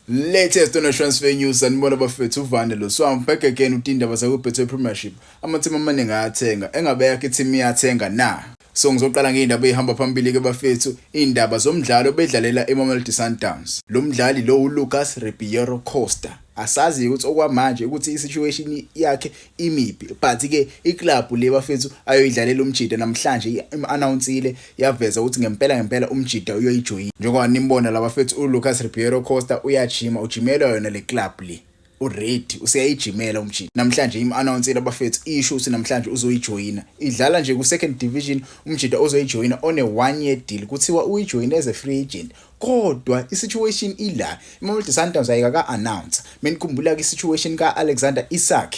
Latest on transfer news sanibona bafethu uvane lo swam back again utindaba zakubhethe premiership amathimba amaningi ayathenga engabe yakhe team iyathenga na so ngizoqala ngeindaba ezihamba phambili ke bafethu indaba zomdlalo bedlalela eMamelodi Sundowns lo mdlali lo uLucas Ribeiro Costa asazi ukuthi okwamanje ukuthi isituation yakhe imibi but ke iclub le bafethu ayoyidlalela umjida namhlanje iannounceile yaveza ukuthi ngempela ngempela umjida uyoyijoyina njengoba nimbona laba fethu uLucas Ribeiro Costa uyajima ujimelwa yona le club le uready useyayijimela umjini namhlanje im-announceile abafethu isho ukuthi namhlanje uzoyijoyina idlala nje ku-second division umjida ozoyijoyina one year deal kuthiwa uyijoyine as a free agent kodwa i-situation ila imamelodi sundowns ayikaka-announce menikhumbula-ke i-situation ka-alexander isak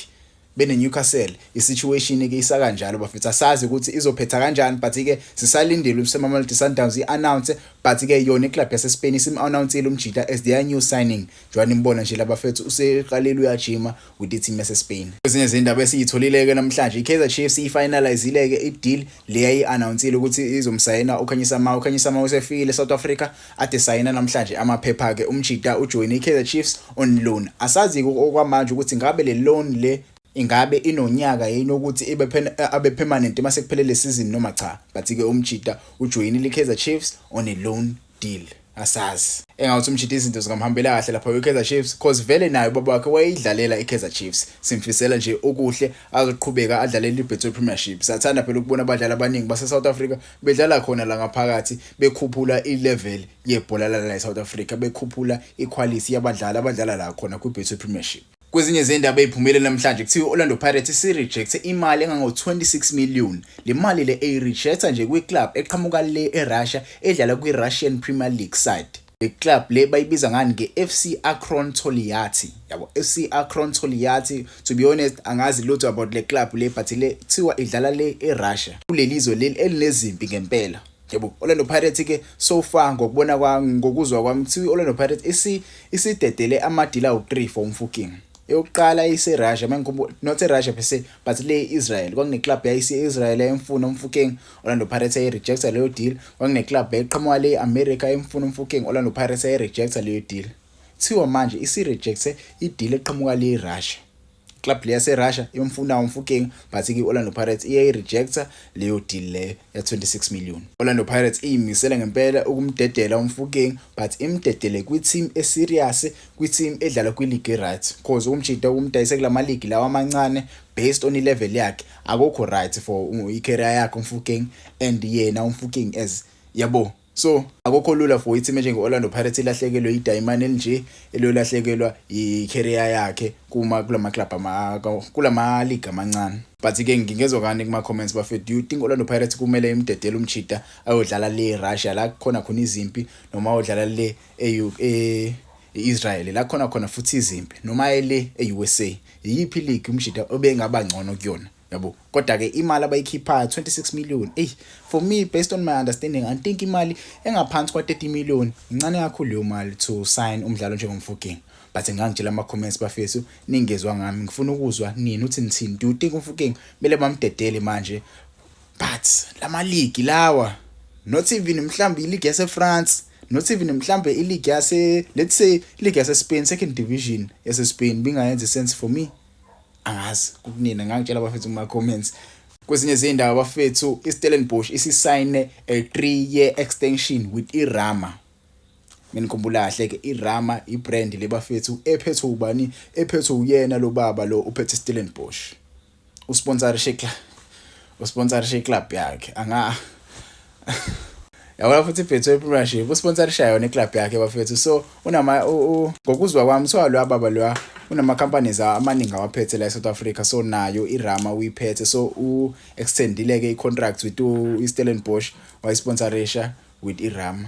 bene-newcastle i-situation-ke isakanjalo bafethu asazi ukuthi izophetha kanjani but-ke sisalindile usemamelodi sundowns i-announce but-ke yona iclub yasespain isim-announcile umjita as their new signing njengoba nimbona nje labafethu useqalile uyajima with iteam yaseSpain. Kwezinye izindaba esiyitholile-ke namhlanje iKaizer Chiefs ifinalizile-ke ideal le yayi-anawunsile ukuthi izomsayina uKhanyisa Mawo. UKhanyisa Mawo usefile eSouth Africa ade sayina namhlanje amaphepha-ke. Umjita ujoyine iKaizer Chiefs on loan. Asazi-ke okwamanje ukuthi ngabe le loan le ingabe inonyaka yini ukuthi ibe abe permanent uma sekuphelele le season noma cha. But-ke umjita ujoyinile iKaizer Chiefs on a loan. deal asazi engawuthi umjida izinto zingamhambela kahle lapha kwiKaizer Chiefs cause vele naye ubaba wakhe wayeyidlalela iKaizer Chiefs simfisela nje okuhle azoqhubeka adlalele iBetway Premiership sathanda phela ukubona abadlali abaningi base South Africa bedlala khona la ngaphakathi bekhuphula ilevel yebhola la South Africa bekhuphula iquality yabadlali abadlala la khona kwiBetway Premiership Kwezinye zendaba eziphumele namhlanje kuthiwa i-Orlando Pirates isirejekthe imali engango-26 million. Le mali le eyirejektha nje kwi-club eqhamuka le eRussia edlala kwi-Russian Premier League side. Le club le bayibiza ngani nge-FC Akron Toliati. Yabo FC Akron Toliati to be honest angazi lutho about le club le but le kuthiwa idlala le eRussia. Kuleli zwe leli elinezimpi ngempela. Yebo, Orlando Pirates ke so far ngokubona kwami ngokuzwa kwami kuthiwa i-Orlando Pirates isi isidedele amadila awu-3 for umfuking. Eyokuqala iseRussia mangikhumbula not eRussia per se but le Israel kwakuneclub yayise Israel emfuna umfuking Orlando Pirates ayi rejecta leyo deal kwakuneclub eqhamuka le America emfuna umfuking Orlando Pirates ayi rejecta leyo deal. Thiwa manje isi rejecte ideal eqhamuka le Russia. club le yaserussia imfuna umfukeng but i-orlando pirates iyayirejecta leyo deal leyo ya-26 million orlando pirates iyimisele ngempela ukumdedela umfukeng but imdedele kwi-team eserious kwi-team edlala kwiligi right cause ukumjida ukumdayise kula maligi lawa amancane based on ilevel yakhe akukho right for i-career yakhe umfukeng and yena umfukeng as yabo So akukho lula for i-team enjenge-Orlando Pirates ilahlekelwe idayimane elinje eliyolahlekelwa yi-career yakhe kuma kulama club ama kulama league amancane but ke ngingezwa kani kuma comments bafethu do you think Orlando Pirates kumele imdedele umchita ayodlala le Russia la khona khona izimpi noma ayodlala le e Israel la khona khona futhi izimpi noma ele e-USA yiphi league umjita obengaba ngcono kuyona yabo kodwa ke imali abayikhiphayo 26 million ey for me based on my understanding i think imali engaphansi kwa 30 million incane kakhulu leyo mali to sign umdlalo njengomfuging but ngangitshela ama comments bafethu ningezwa ngami ngifuna ukuzwa nini uthi nithini do you think umfuging bele bamdedele manje but lama league lawa not even mhlambi league yase France not even mhlambe i league yase let's say league yase Spain second division yase Spain bingayenza sense for me angazi kunina ngangitshela abafethu kuma comments kwezinye izindawo abafethu iStellenbosch isisayine a 3 year extension with iRama nginikhumbula kahle ke iRama ibrand lebafethu ephethwe ubani ephethwe uyena lo baba lo uphethe Stellenbosch usponsorishe club usponsorishe club yakhe anga yabona futhi ibhetho ipremieship usponsorisha yona iclub yakhe bafethu so unama ngokuzwa kwami so loya baba loya unama-companies amaningi awaphethe la e-south africa so nayo irama uyiphethe so u-extendile-ke i-contract with u-stellenbosch wayisponsorisha with irama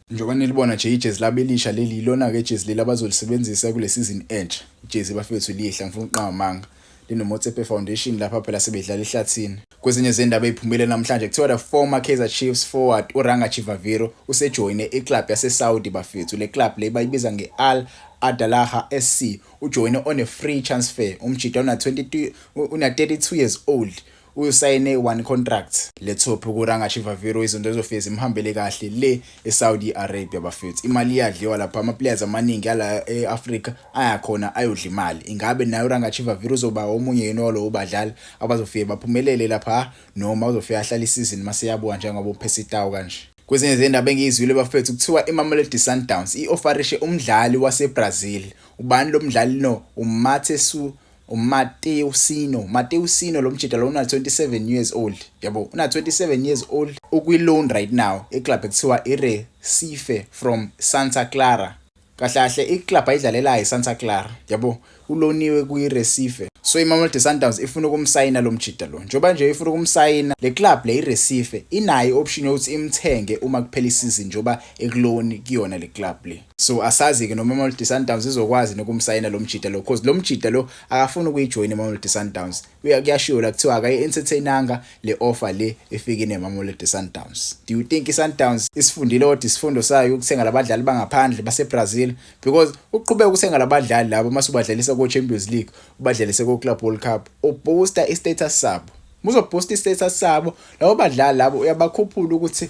Njengoba nilibona nje ijezi labo elisha leli yilona-ke ijezi leli abazolisebenzisa kule sizini entsha. Ijezi bafethu lihle angifuni ukuqamba amanga. LinoMotsepe Foundation lapha phela sebedlala ehlathini. Kwezinye zendaba eziphumile namhlanje kuthiwa the former Kaizer Chiefs forward uRanga Chivaviro usejoyine iclub yaseSaudi bafethu. Le club le bayibiza nge-Al Adalaha SC. Ujoyine on a free transfer umjita una-22 una-32 years old. Usayine one contract lethophi kuranga Chivaviro izinto ezofike zimhambele kahle le eSaudi Arabia bafethu. Imali iyadliwa lapha ama players amaningi ala eAfrica ayakhona ayodla imali. Ingabe naye uranga Chivaviro uzoba omunye yini walowo badlali abazofike baphumelele lapha noma uzofika ahlala isizini maseyabuka njengoba uphesa itawu kanje. Kwezinye zendaba engiyizwile bafethu kuthiwa iMamelodi Sundowns i-ofarishe umdlali waseBrazil. Ubani lo mdlali no? UMathesu uMatteo Sino Matteo Sino lo mjita lo una 27 years old yabo una 27 years old ukwi loan right now iclub ekuthiwa iRecife from Santa Clara kahle kahle iclub ayidlalelayo iSanta Clara yabo uloniwe kwiRecife so iMamelodi Sundowns ifuna ukumsayina lo mjita lo njengoba nje ifuna ukumsayina le club le iRecife inayo option yokuthi imthenge uma kuphela isizini njengoba ekuloni kuyona le club le so asazi-ke noma imamelodi sundowns izokwazi nokumsayina lo mjida lo cause lo mjida lo akafuni ukuyijoyina imamelodi sundowns kuyashiwo la kuthiwa akayi-entertainanga le offer le efike nemamelodi sundowns do you think i-sundowns isifundile kodwa isifundo sayo ukuthenga labadlali bangaphandle basebrazil because uqhubeka ukuthenga labadlali labo uma subadlalisa ko-champions league ubadlalise ko-club world cup uboosta i-status sabo muzoboosta i-status sabo labo badlali labo uyabakhuphula ukuthi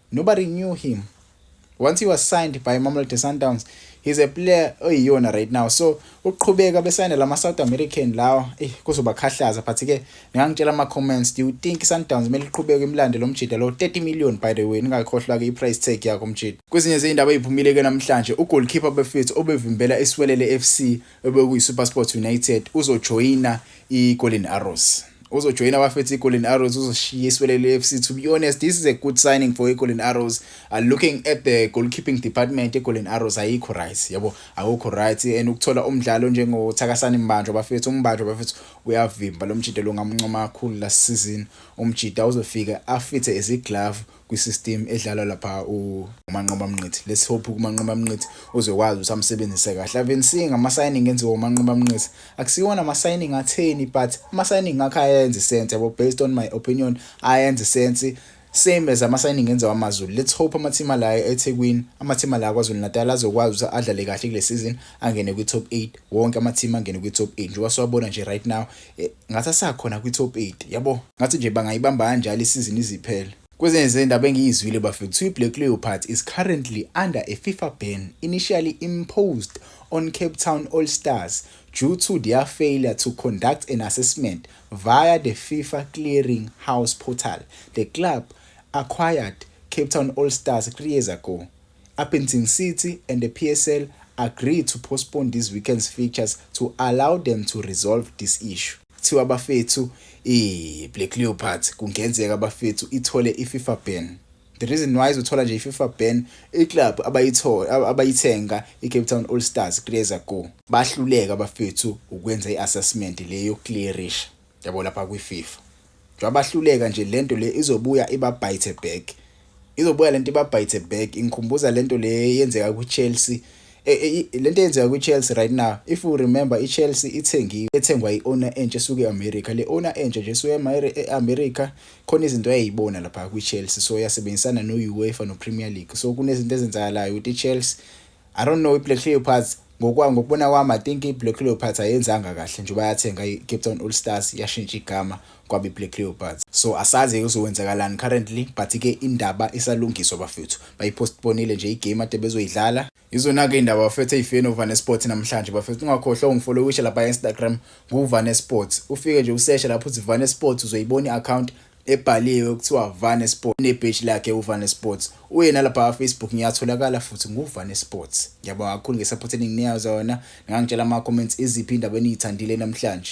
Nobody knew him. Once he was signed by Mamelodi Sundowns, he's a player oyiyona right now. So uqhubeka besayine lama South American lawa, eh kuzobakhahlaza but ke ngangitshela ama comments, do you think Sundowns mele iqhubeke imlande lo mjida lo 30 million by the way, ningakhohlwa ke iprice tag yakho mjida. Kwezinye izindaba eziphumile ke namhlanje, ugoalkeeper beFits obevimbela iSwelele FC obekuyiSuperSport United uzojoyina iGolden Arrows. uzojoyina abafethu igolden arrows uzoshiya iswelele fc to be honest this is a good signing for igolden arrows uh, looking at the goalkeeping department egolden arrows ayikho right yabo akukho right and ukuthola umdlalo njengothakasani mbanjwa abafethu umbanjwa abafethu uyavimba lo mjida lo ngamncoma kakhulu last season umjida uzofika afithe eziglove kwi-system edlalwa lapha uManqoba Mnqithi let's hope uManqoba Mnqithi uzokwazi ukuthi amsebenzise kahle ave nsinga ama-signing enziwa uManqoba Mnqithi akusiwona ama-signing atheni but ama-signing akhe ayenze sense yabo based on my opinion ayenze sense same as ama-signing enziwa amazulu let's hope amathima la ethekwini amathima la kwazulu-natal azokwazi ukuthi adlale kahle kule season angene kwi-top eight wonke amathima angene kwi-top eight njengoba siwabona nje right now Eh, ngathi asakhona kwi-top 8 yabo ngathi nje bangayibamba kanjalo isizini iziphele Kwezinye zendaba engiyizwile bafethu kuthiwa i-Black Leopards is currently under a FIFA ban initially imposed on Cape Town All Stars due to their failure to conduct an assessment via the FIFA Clearing House portal. The club acquired Cape Town All Stars three years ago Upington City and the PSL agree to postpone this weekend's fixtures to allow them to resolve this issue. Kuthiwa bafethu iBlack Leopards kungenzeka bafethu ithole iFifa ban. The reason why izothola nje iFifa ban iclub abayithola abayithenga iCape Town All Stars kuleza go. Bahluleka bafethu ukwenza iassessment le yokuclearisha. Yabo lapha kwiFifa. Njengoba bahluleka nje lento le izobuya ibabhayithe back. Izobuya lento ibabhayithe back. Ingikhumbuza lento le yenzeka kwiChelsea. E, e, e, lento eyenzeka kwiChelsea right now. If you remember iChelsea ithengiwe, ethengwa iowner entsha esuke eAmerica. Le owner entsha nje esuke eAmerica khona izinto ayeyibona lapha kwiChelsea. So yasebenzisana noUEFA noPremier League. So kunezinto ezenzakalayo ukuthi iChelsea I don't know iBlack Leopards ngokwa ngokubona kwami I think iBlack Leopards ayenzanga kahle njengoba yathenga iCape Town All Stars yashintsha igama kwaba iBlack Leopards so asazi kuzokwenzakalani currently but ke indaba isalungiswa bafethu bayipostponile nje igame ade bezoyidlala Izona-ke indaba bafethu eyifeni ovane sports namhlanje bafethu ungakhohlwa ungifollowishe lapha e-instagram nguvane sports ufike nje useshe lapho uthi vane sports uzoyibona i-account ebhaliwe kuthiwa Vane Sports nebheji lakhe uVane Sports uye nalapha Facebook ngiyatholakala futhi nguVane Sports ngiyabonga kakhulu ngesupport eninginiya zona ngangitshela ama comments iziphi indaba eniyithandile namhlanje